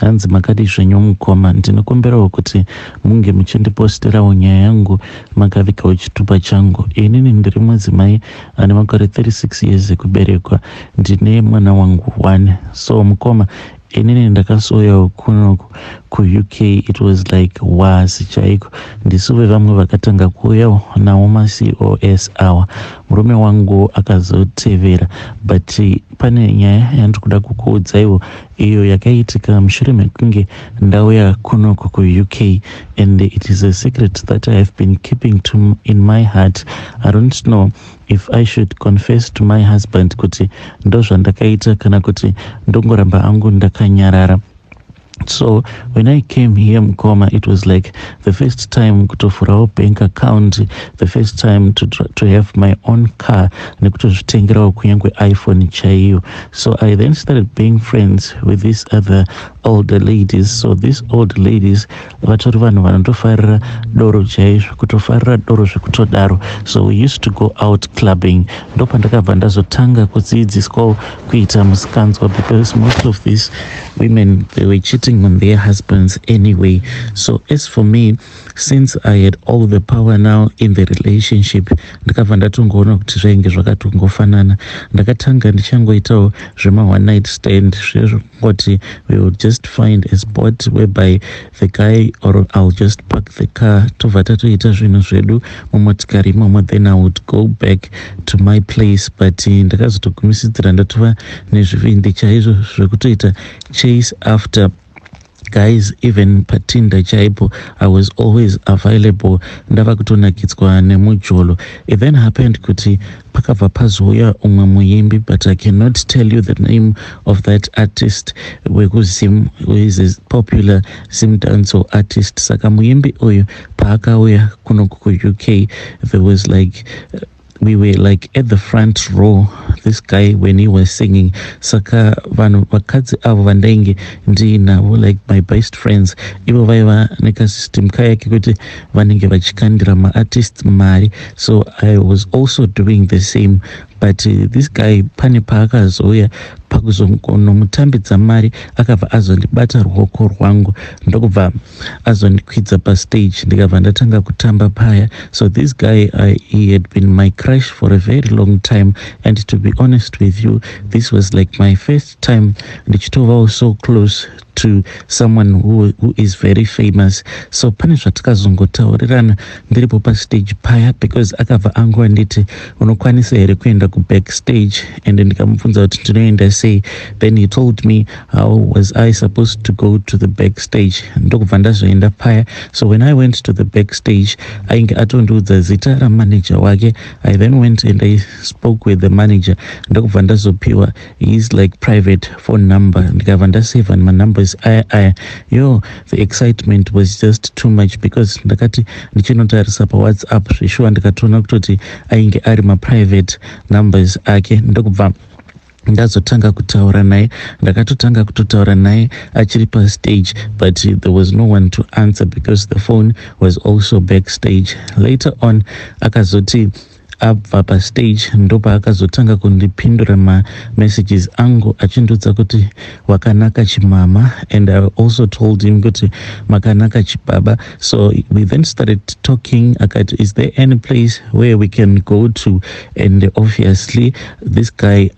Hanzi makadii zvenyu mukoma, ndinokumbirawo kuti munge muchindipostirawo nyaya yangu makavikawo chitupa changu. Inini ndiri mudzimai ane makore 36 years ekuberekwa, ndine mwana wangu one. So mukoma, inini ndakasouyawo kunoku kuUK it was like was chaiko ndisuve vamwe vakatanga kuuyawo nawo macos awa murume wangu akazotevera but pane nyaya yandiri kuda kukuudzaiwo iyo yakaitika mushure mekunge ndauya kunoku kuuk and it is a secret that i have been keeping to in my heart i don't know if i should confess to my husband kuti ndozvandakaita kana kuti ndongoramba angu ndakanyarara so when i came here mukoma it was like the first time kutovhurawo bank account the first time to, to have my own car nekutozvitengerawo kunyange iphone chaiyo So I then started being friends with these other older ladies. So these old ladies vatori vanhu vanotofarira doro chaizvo kutofarira doro zvekutodaro. So we used to go out clubbing. Ndopandakabva ndazotanga kudzidziswawo kuita musikanzwa because most of these women they were cheating on their husbands anyway. So as for me since i had all the power now in the relationship ndikabva ndatongoona kuti zvainge zvakatongofanana ndakatanga ndichangoitawo zvema one night stand zvezvekungoti we will just find a spot whereby the guy or ill just park the car tobva tatoita zvinhu zvedu mumotikari imomo then i would go back to my place but eh, ndakazotogumisidzira ndatova nezvivindi chaizvo zvekutoita chase after guys even patinda chaipo i was always available ndava kutonakidzwa nemujolo it then happened kuti pakabva pazouya umwe muimbi but i cannot tell you the name of that artist wekuzim is a popular zim dancehall artist saka muimbi uyu paakauya kuno kuuk there was like uh, we were like at the front row this guy when he was singing saka vanhu vakadzi avo vandainge ndiinavo like my best friends ivo vaiva nekasystem kaya kekuti vanenge vachikandira maartist mari so i was also doing the same but uh, this guy pane paakazouya pakuzonomutambidza mari akabva azondibata ruoko rwangu ndokubva azondikwidza pastage ndikabva ndatanga kutamba paya so this guy I, he had been my crush for a very long time and to be honest with you this was like my first time ndichitovawo so close to someone who, who is very famous so pane zvatakazongotaurirana ndiripo pastage paya because akabva angu anditi unokwanisa here kuenda kubackstage and ndikamubvunza kuti ndinoenda sei then he told me how was i supposed to go to the back stage ndokubva ndazoenda paya so when i went to the back stage ainge atondiudza zita ramanager wake i then went and i spoke with the manager ndokubva ndazopiwa his like private phone number ndikabva ndasavha manumbers aya aya yo the excitement was just too much because ndakati ndichinotarisa pawhatsapp zveshuwa ndikatoona kutoti ainge ari maprivate numbers ake ndokubva ndazotanga kutaura naye ndakatotanga kutotaura naye achiri pastage but there was no one to answer because the phone was also backstage later on akazoti abva pastage ndopaakazotanga kundipindura mamessages angu achindiudza kuti wakanaka chimama and i also told him kuti makanaka chibaba So we then started talking. Akati, is there any place where we can go to? And obviously, this guy,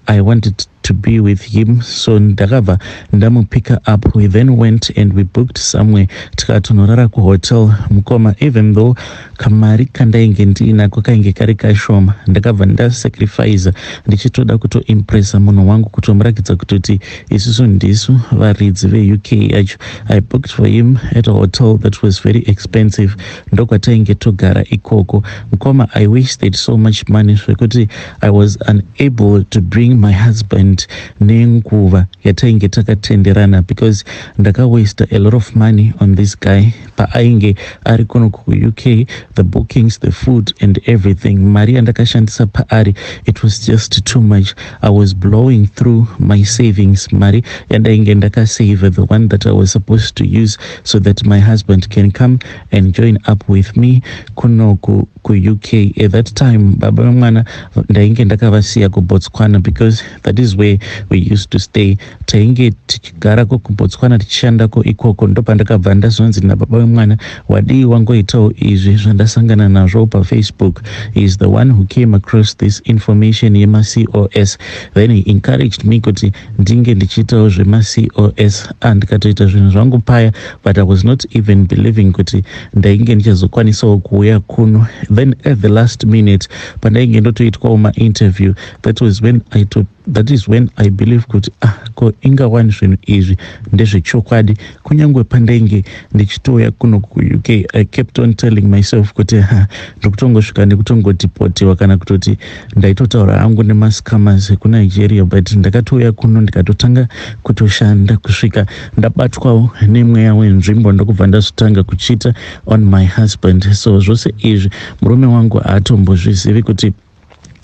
I wanted to be with him. So ndakabva ndamupicker up. We then went and we booked somewhere tikatonorara kuhotel. Mukoma, even though kamari kandainge ndiinako kainge kari kashoma, ndakabva ndasacrifice ndichitoda kutoimpressa munhu wangu kutomuratidza kutoti Isusu ndisu varidzi veUK yacho. I booked for him at a hotel that was very expensive ndokwatainge togara ikoko. Mkoma I wasted so much money zvekuti I was unable to bring my husband nenguva yatainge takatenderana because ndakawaster a lot of money on this guy paainge ari kuno kuuk the bookings the food and everything mari yandakashandisa paari it was just too much i was blowing through my savings mari yandainge ndakasave the one that i was supposed to use so that my husband can come and join up with me kuno kuuk kuUK at that time baba vemwana ndainge ndakavasiya kuBotswana because that is where we used to stay tainge tichigarako kuBotswana tichishandako ikoko ndopandakabva ndazonzi nababa vemwana wadii wangoitawo izvi zvandasangana nazvo pafacebook he is the one who came across this information yemacos then he encouraged me kuti ndinge ndichiitawo zvemacos andikatoita zvinhu zvangu paya but i was not even believing kuti ndainge ndichazokwanisawo kuuya kuno then at the last minute pandainge ndotoitwawo mainterview that was when i to, that is when i believe kuti ah ko inga wani zvinhu izvi ndezvechokwadi kunyange pandainge ndichitouya kuno kuuk i kept on telling myself kuti ha ndiri kutongosvika nekutongodipotiwa kana kutoti ndaitotaura hangu nemascamas ekunigeria but ndakatouya kuno ndikatotanga kutoshanda kusvika ndabatwawo nemweya wenzvimbo ndokubva ndazvitanga kuchita on my husband so zvose izvi murume wangu haatombozvizivi kuti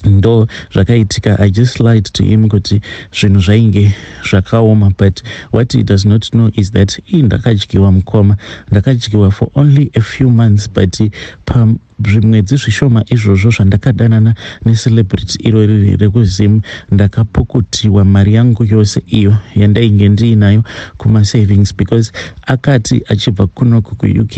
ndo zvakaitika i just lied to him kuti zvinhu zvainge zvakaoma but what he does not know is that ii ndakadyiwa mukoma ndakadyiwa for only a few months but pam Zvimwedzi zvishoma izvozvo zvandakadanana necelebrity iro riri rekuZim ndakapukutiwa mari yangu yose iyo yandainge ndiinayo kumasavings because akati achibva kunoku kuUK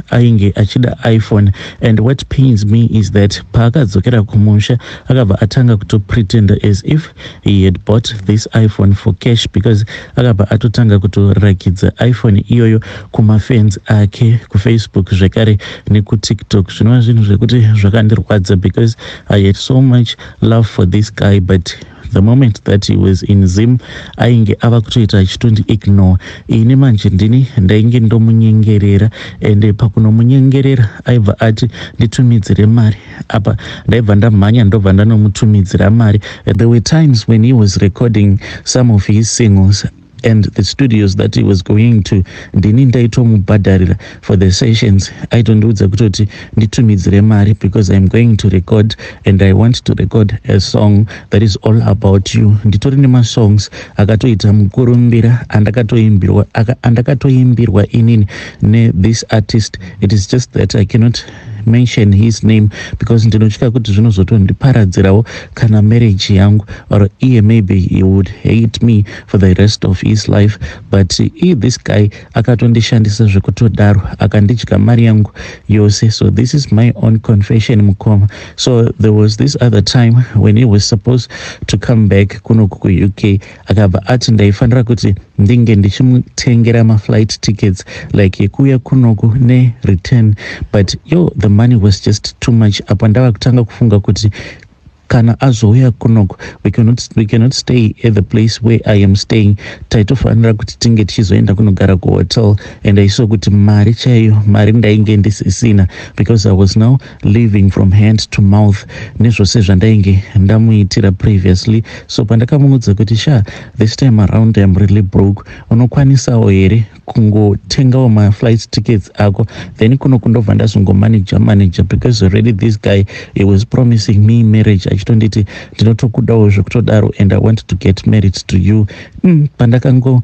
ainge achida iPhone and what pains me is that paakadzokera kumusha akabva atanga kutopretender as if He had bought this iPhone for cash because akabva atotanga kutorakidza iPhone iyoyo kumafans ake kuFacebook zvekare nekuTiktok. Zvinova zvinhu zvekuti zvakandirwadza because I had so much love for this guy but the moment that he was in Zim ainge ava kutoita achitondi ignore. Ini manje ndini ndainge ndomunyengerera and pakunomunyengerera aibva ati nditumidzire mari. apa ndaibva ndamhanya ndobva ndanomutumidzira mari there were times when he was recording some of his singles and the studios that he was going to ndini ndaitomubhadharira for the sessions aitondiudza kutoti nditumidzire mari because iam going to record and i want to record a song that is all about you nditori nemasongs akatoita mukurumbira andakatoimbirwa andakatoimbirwa inini nethis artist it is just that i cannot mention his name because ndinotya kuti zvinozotondiparadzirawo kana marriage yangu or iye maybe he would hate me for the rest of his life but i this guy akatondishandisa zvekutodaro akandidya mari yangu yose so this is my own confession mukoma so there was this other time when he was supposed to come back kunoku kuuk akabva ati ndaifanira kuti ndinge ndichimutengera maflight tickets like yekuuya kunoku nereturn but yo the money was just too much apa ndava kutanga kufunga kuti kana azouya kunoku we cannot, we cannot stay at the place where i am staying taitofanira kuti tinge tichizoenda kunogara kuhotel and i saw kuti mari chaiyo mari ndainge ndisisina because i was now living from hand to mouth nezvose zvandainge ndamuitira previously so pandakamuudza kuti sha this time around am really broke unokwanisawo here kungotengawo maflight tickets ako then kuno kundobva ndazongomanager manager because already this guy he was promising me marriage achitonditi ndinotokudawo zvekutodaro and i want to get married to you mm, pandakango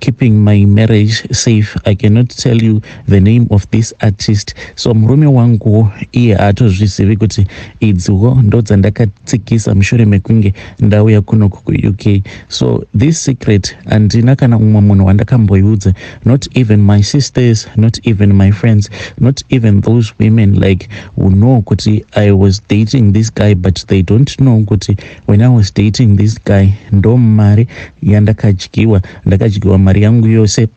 keeping my marriage safe i cannot tell you the name of this artist so murume wangu iye haatozvizivi kuti idziwo ndodzandakatsikisa mushure mekunge ndauya kunoku kuuk so this secret handina kana umwe munhu wandakamboiudza not even my sisters not even my friends not even those women like who know kuti i was dating this guy but they don't know kuti When I was dating this guy ndo mari yandakadyiwa ndakadyiwa mari yangu yose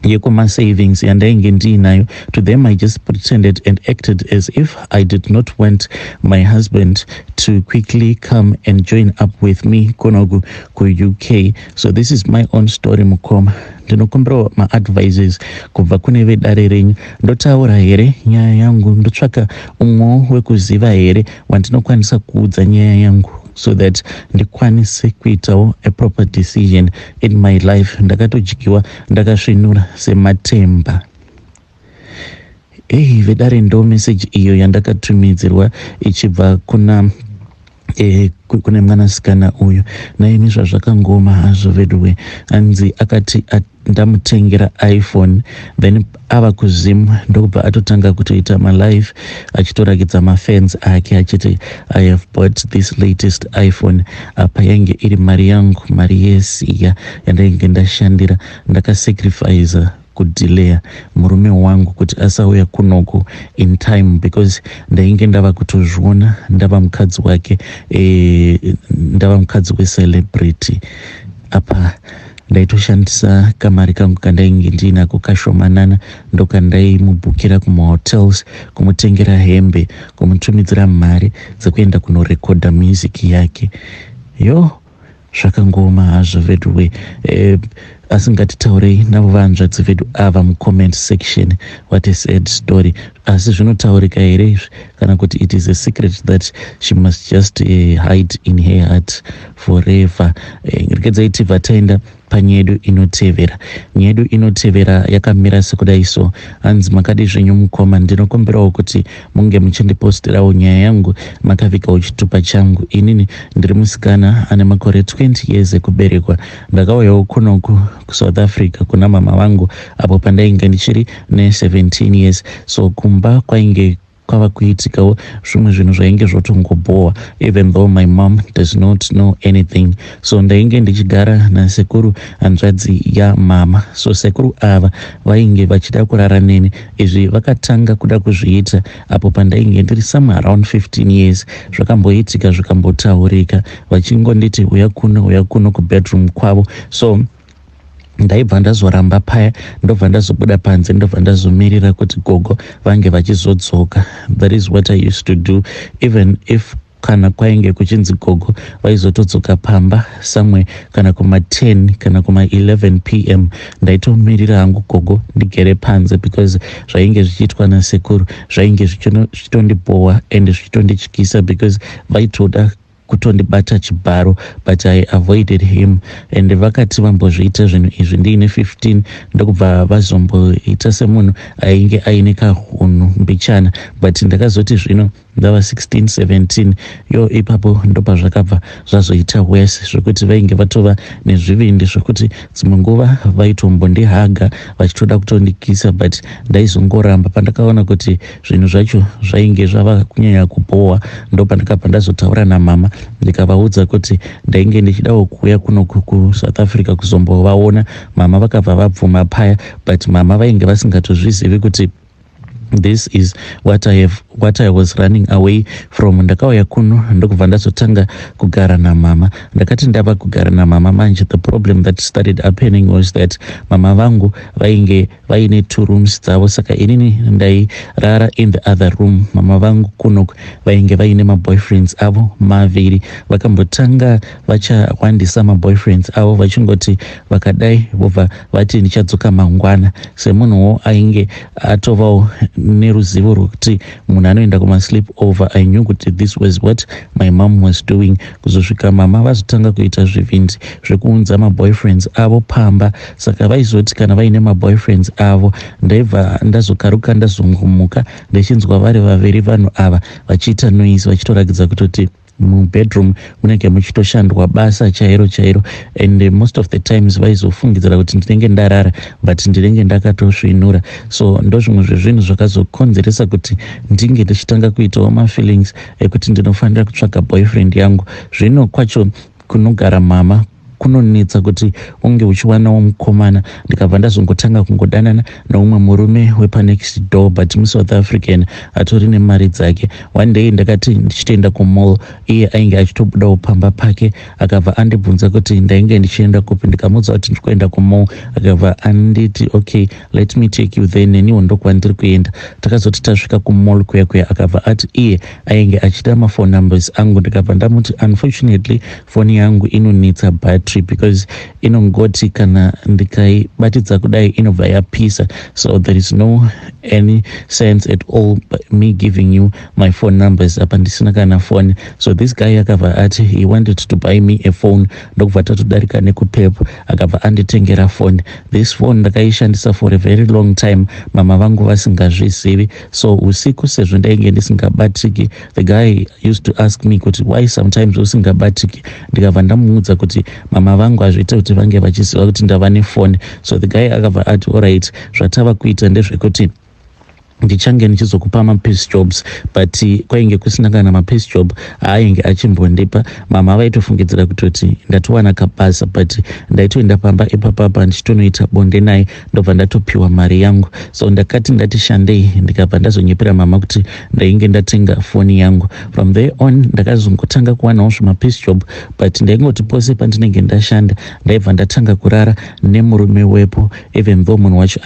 yekuma savings yandainge ndiinayo to them i just pretended and acted as if i did not want my husband to quickly come and join up with me konoku kuuk so this is my own story mukoma ndinokumbirawo maadvises kubva kune vedare renyu ndotaura here nyaya yangu ndotsvaka umwewo wekuziva here wandinokwanisa kuudza nyaya yangu so that ndikwanise kuitawo a proper decision in my life ndakatodyiwa ndakasvinura sematemba ehi vedare ndo meseji iyo yandakatumidzirwa ichibva kuna e, kune mwanasikana uyu naimi zvazvakangoma hazvo veduwe hanzi akati ndamutengera iphone then ava kuzim ndokubva atotanga kutoita malive achitorakidza mafans ake achiti i have bought this latest iphone apa yainge iri mari yangu mari yesiya yandainge ndashandira ndakasacrifice kudelaya murume wangu kuti asauya kunoku in time because ndainge ndava kutozviona ndava mukadzi wake e, ndava mukadzi wecelebrity apa ndaitoshandisa kamari kangu kandainge ndiinako kashomanana ndokandaimubhukira kumahotels kumutengera hembe kumutumidzira mari dzekuenda kunorekodha music yake yo zvakangooma hazvo veduwe eh, asi ngatitaurei navo vanzvadzi vedu ava mucomment section what a sad story Asi zvinotaurika here izvi kana kuti it is a secret that she must just uh, hide in her heart forever. Eh, Rekedzai tibva taenda panyedu inotevera. Nyedu inotevera yakamira sekudai so. Hanzi makadi zvenyu mukoma ndinokumbirawo kuti munge muchindipostirawo nyaya yangu makavikawo chitupa changu. Inini ndiri musikana ane makore 20 years ekuberekwa. Ndakauyawo kunoku kusouth africa kuna mama vangu apo pandainge ndichiri ne17 years so kumba kwainge kwava kuitikawo zvimwe zvinhu zvainge zvotongobhowa even though my mom does not know anything so ndainge ndichigara nasekuru hanzvadzi yamama so sekuru ava vainge vachida kurara neni izvi vakatanga kuda kuzviita apo pandainge ndiri somewhere around 15 years zvakamboitika zvikambotaurika vachingonditi uya kuno uya kuno kubedroom kwavo so ndaibva ndazoramba paya ndobva ndazobuda panze ndobva ndazomirira kuti gogo vange vachizodzoka that is what i used to do even if kana kwainge kuchinzi gogo vaizotodzoka pamba somewhere kana kuma 10 kana kuma 11 pm ndaitomirira hangu gogo ndigere panze because zvainge zvichiitwa nasekuru zvainge zvichitondibhowa and zvichitondityisa because vaitoda kutondibata chibharo but i avoided him and vakati vambozviita zvinhu izvi ndiine 15 ndokubva vazomboita semunhu ainge aine kahunhu mbichana but ndakazoti zvino Ndava 16 17 yoo ipapo ndopazvakabva zvazoita worse zvekuti vainge vatova nezvivindi zvekuti dzimwe nguva vaitombondihaga vachitoda kutondikisa but ndaizongoramba pandakaona kuti zvinhu zvacho zvainge zvava kunyanya kubhowa ndopandakabva ndazotaura namama ndikavaudza kuti ndainge ndichidawo kuuya kuno kusouth africa kuzombovaona mama vakabva vabvuma paya but mama vainge vasingatozvizivi kuti this is what I, have, what I was running away from ndakauya kuno ndokubva ndazotanga kugara namama ndakati ndava kugara namama manje the problem that started happening was that mama vangu vainge vaine two rooms dzavo saka inini ndairara in the other room mama vangu kuno vainge vaine maboyfriends avo maviri vakambotanga vachakwandisa maboyfriends avo vachingoti vakadai vobva vati ndichadzoka mangwana semunhuwo ainge atovawo neruzivo rwekuti munhu anoenda kumasleep over i knew kuti this was what my mom was doing kuzosvika mama vazotanga kuita zvivindi zvekuunza maboyfriends avo pamba saka vaizoti kana vaine maboyfriends avo ndaibva ndazokaruka ndazongomuka ndichinzwa vari vaviri vanhu ava vachiita noise vachitorakidza kutoti Mubedroom munenge muchitoshandwa basa chairo chairo and most of the times vaizofungidzira kuti ndinenge ndarara but ndinenge ndakatosvinura so ndozvimwe zvezvinhu zvakazokonzeresa kuti ndinge ndichitanga kuitawo mafeelings ekuti ndinofanira kutsvaga boyfriend yangu zvino kwacho Kunogara mama kunonetsa kuti unge uchiwanawo mukomana ndikabva ndazongotanga kungodanana neumwe murume wepanext door but musouth african atori nemari dzake one day ndakati ndichitoenda kumall iye ainge achitobudawo pamba pake akabva andibvunza kuti ndainge ndichienda kupi ndikamuudza kuti ndiri kuenda kumall akabva anditi okay let me take you there neniwo ndokwandiri kuenda takazoti tasvika kumall kuya kuya akabva ati iye ainge achida maphone numbers angu ndikabva ndamuti unfortunately foni yangu inonetsa battery because inongoti kana ndikaibatidza kudai inobva yapisa so there is no any sense at all me giving you my phone numbers apa ndisina kana foni so this guy akabva ati he wanted to buy me a phone ndokubva tatodarika nekupep akabva anditengera foni this phone ndakaishandisa for a very long time mama vangu vasingazvizivi so usiku sezvo ndainge ndisingabatriki the guy used to ask me kuti why sometimes usingabatriki ndikabva ndamuudza kuti mama vangu hazviite kuti vange vachiziva kuti ndava nefoni so the guy akabva ati oright zvatava kuita ndezvekuti ndichange ndichizokupa mapiece jobs but eh, kwainge kusina kana mapiece job aainge achimbondipa mama vaitofungidzira kutoti ndatowana kabasa but ndaitoenda pamba ipapapa ndichitonoita bonde naye ndobva ndatopiwa mari yangu so ndakati ndati shandei ndikabva ndazonyepera mama kuti ndainge ndatenga foni yangu from there on ndakazongotanga kuwanawo zvimapeace job but ndaingoti pose pandinenge ndashanda ndaibva ndatanga kurara nemurume wepo even though munhu wacho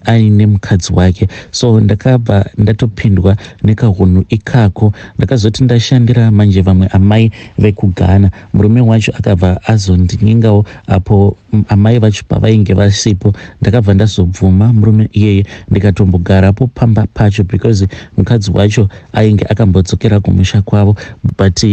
aine mukadzi wake so ndakabva ndatopindwa nekahunhu ikako ndakazoti ndashandira manje vamwe amai vekugana Murume wacho akabva azondinyengawo apo amai vacho pavainge vasipo. Ndakabva ndazobvuma murume iyeye ndikatombogarapo pamba pacho because mukadzi wacho ainge akambodzokera kumusha kwavo but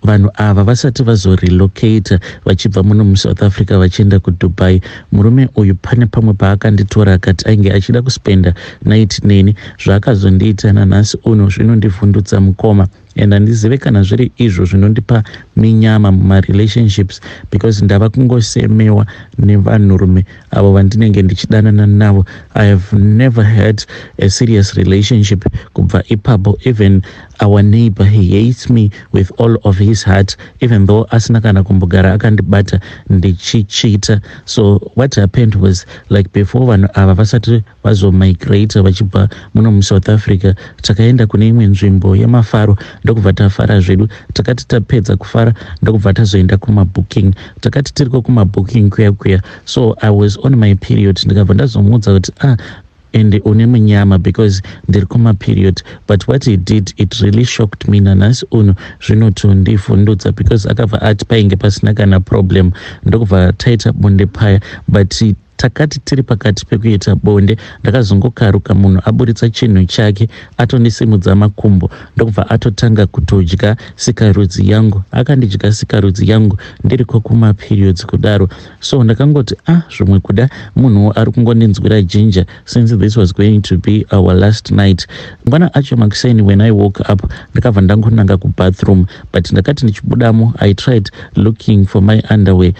vanhu ava vasati vazorelocator vachibva muno musouth africa vachienda kudubai murume uyu pane pamwe paakanditora akati ainge achida kuspenda night neni zvaakazondiita nanhasi uno zvinondivhundutsa mukoma and handizive kana zviri izvo zvinondipa minyama mumarelationships because ndava kungosemewa nevanhurume avo vandinenge ndichidanana navo i have never had a serious relationship kubva ipapo even our neighbor he hates me with all of his heart even though asina kana kumbogara akandibata ndichichita so what happened was like before vanhu ava vasati vazomigrata vachibva muno musouth africa takaenda kune imwe nzvimbo yemafaro ndokubva tafara zvedu takati tapedza kufara ndokubva tazoenda kumabooking takati tiriko kumabooking kuya kuya so i was on my period ndikabva ndazomuudza kuti ah and une munyama because ndiri kumaperiod but what he did it really shocked me nanhasi uno zvinotondivhundudza because akabva ati painge pasina kana problem ndokubva taita bonde paya but Takati tiri pakati pekuita bonde ndakazongokaruka munhu aburitsa chinhu chake atondisimudza makumbo ndokubva atotanga kutodya sikarudzi yangu. Akandidya sikarudzi yangu ndiriko kumaperiods kudaro so ndakangoti ah zvimwe kuda munhuwo ari kungondinzwira ginger since this was going to be our last night. Mangwana acho makuseni when I woke up ndakabva ndangonanga kubathroom but ndakati ndichibudamo I tried looking for my underwear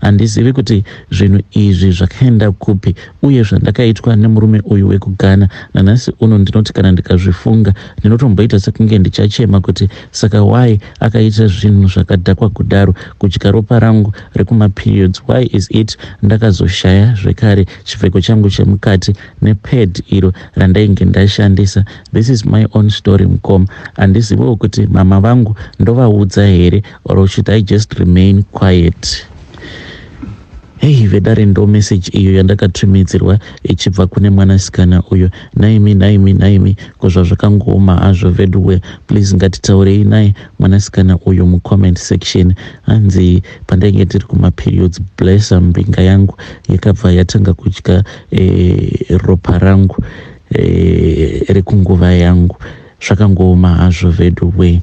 Handizivi kuti zvinhu izvi zvakaenda kupi uye zvandakaitwa nemurume uyu wekuGhana. Nanhasi uno ndinoti kana ndikazvifunga ndinotomboita sekunge ndichachema kuti saka why akaita zvinhu zvakadhakwa kudaro, kudya ropa rangu rekumaperiods. Why is it ndakazoshaya zvekare chipfeko changu chemukati nepad iro randainge ndashandisa. This is my own story mukoma. Handiziviwo kuti mama vangu ndovaudza here. or should i just remain quiet hei vedare ndo meseji iyo yandakatumidzirwa ichibva kune mwanasikana uyo nhaimi nhaimi nhaimi ko zvazvakangooma hazvo veduwe please ngatitaurei naye mwanasikana uyo mucomment section hanzi pandainge ndiri kumaperiods blessa mbinga yangu yakabva yatanga kudya e, ropa rangu e, rekunguva yangu zvakangooma hazvo veduwe